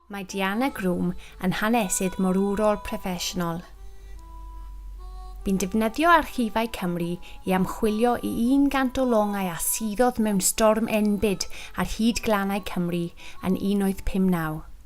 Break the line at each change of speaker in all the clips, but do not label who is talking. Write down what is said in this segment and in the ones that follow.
Mae Diana Groom yn hanesydd morwrol proffesiynol. Bu'n defnyddio Archifau Cymru i ymchwilio i 100 o longau a suddodd mewn storm enbyd ar hyd glannau Cymru yn 1859.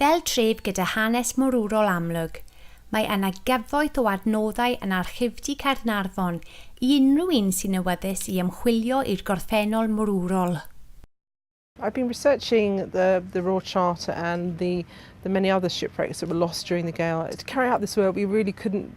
Fel
tref gyda hanes morwrol amlwg, mae yna gyfoeth o adnoddau yn Archifdy Caernarfon i unrhyw un sy'n awyddus i ymchwilio i'r gorffennol morwrol.
I've been researching the the Royal Charter and the the many other shipwrecks that were lost during the gale. To carry out this work we really couldn't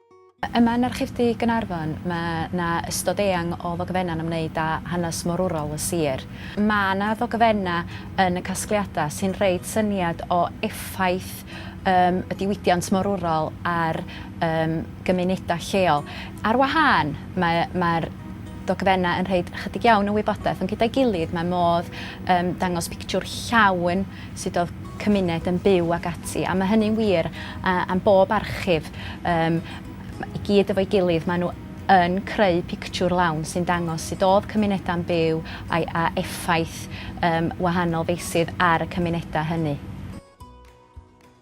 Yma yn Archifdy Gaernarfon mae 'na ystod eang o ddogfennau'n ymwneud â hanes morwrol y sir. Mae 'na ddogfennau yn y casgliadau sy'n rhoi syniad o effaith yym y diwydiant morwrol ar yym gymunedau lleol. Ar wahân, mae mae'r dogfennau yn rhoi 'chydig iawn o wybodaeth, ond gyda'i gilydd mae modd yym dangos pictiwr llawn sut oedd cymuned yn byw ac ati, a mae hynny'n wir am bob archif, yym, i gyd efo'i gilydd, maen nhw yn creu pictiwr lawn sy'n dangos sut oedd cymunedau yn byw a'i a effaith yym wahanol feysydd ar y cymunedau hynny.